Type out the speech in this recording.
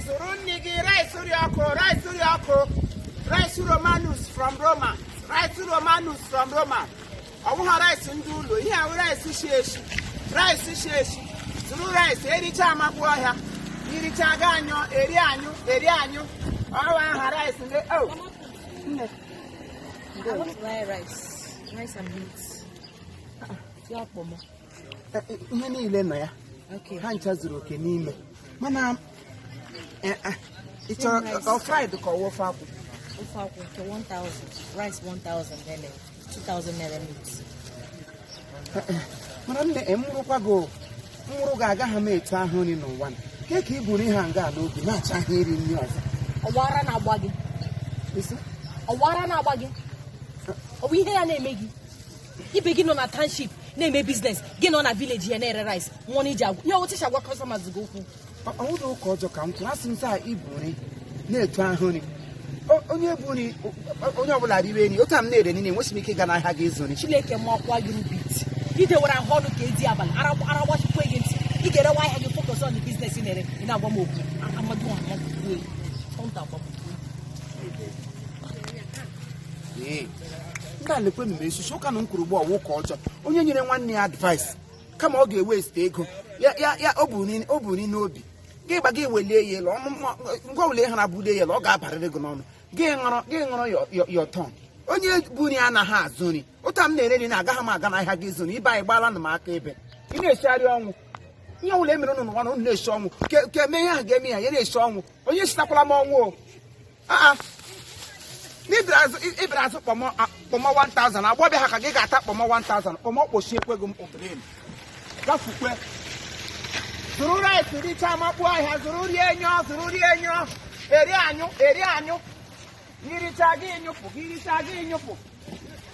zụrụ nne gị rice ri ọkụ rice ri ọkụ rice romanus from roma rice romanus from roma ọ wụ aha rice ndị ụlọ ihe ahụ rice shi eshi rice shi eshi zụrụ rice ericha amakpu ọhịa iricha ga anyụ eri anyụ eri anyụ ọ wụ aha rice ndị o nne I want to buy rice. Rice and beans. Yeah, Pomo. e, e, ihe niile nọ ya ha ncha zuru oke n'ime mana e, ị chọrọ ọ fried ka ọ ofe akwụ ofe akwụ nke 1000 rice 1000 naira 2000 naira meat mana nne mụrụkwa gị mụrụ gị agaghị m etu ahụ nri n'ụwa na nke ka i buru ihe a nga n'obi na-achọ ahụ iri nri ọzọ ọ wụ ara na-agba gị ọ wụ ara na-agba gị ọ wụ ihe ya na-eme gị ibe gị nọ na township na-eme business gị nọ na village ya na-ere rice nwụọ na iji agwa ya otu agwa customers gị okwu o nwedị ụka ọjọọ ka m tụrụ asị m taa i bu nri na-etu ahụ nri onye bu nri onye ọbụla riwe nri otu a m na-ere nri enweghị m ike ịga n'ahịa gị ịzụ nri chineke makwa gị rubbish i dewere ahụ ọnụ ka edi abalị ara gbachikwa gị ntị ị ga-erewa ahịa gị focus on business na-ere ị na-agwa m okwu Amadioha nke a lekwenụ m esusu ụka na m kwuru ugbu ọ wụ ụka ọjọọ onye nyere nwanne ya advice kama ọ ga-ewaste ego ya ya ya o bu ni- o bu nri n'obi gị gba gị welie ya elu ọnụ mma- ngwa wele ha na-abụlie ya elu ọ ga-abarịrị gị n'ọnụ gị ṅụrụ gị ṅụrụ your- your- your tongue onye bu nri anaghị azụ nri otu a m na-ere nri na agaghị m aga n'ahịa gị ịzụ nri ibe anyị gbaala na m aka ebe ị na-esigharị ọnwụ ihe ọbụla e mere ụnụ n'ụwa na ụnụ na-esi ọnwụ ke ke mee ihe ahụ ga-eme ya ya na-esi ọnwụ onye sitakwala m ọnwụ o Ah, ah. n'ibere azụ i- ibere azụ kpọmọ a- kpọmọ 1000 agbọbịa ha ka gị ga-ata kpọmọ 1000 kpọmọ kpochiekwe gị mkpụtụrịm gafukwe zụrụ rice richa makpu ọhịa zụrụ rie nyụọ zụrụ rie nyụọ eri anyụ eri anyụ iricha gị nyụpụ gị iricha gị nyụpụ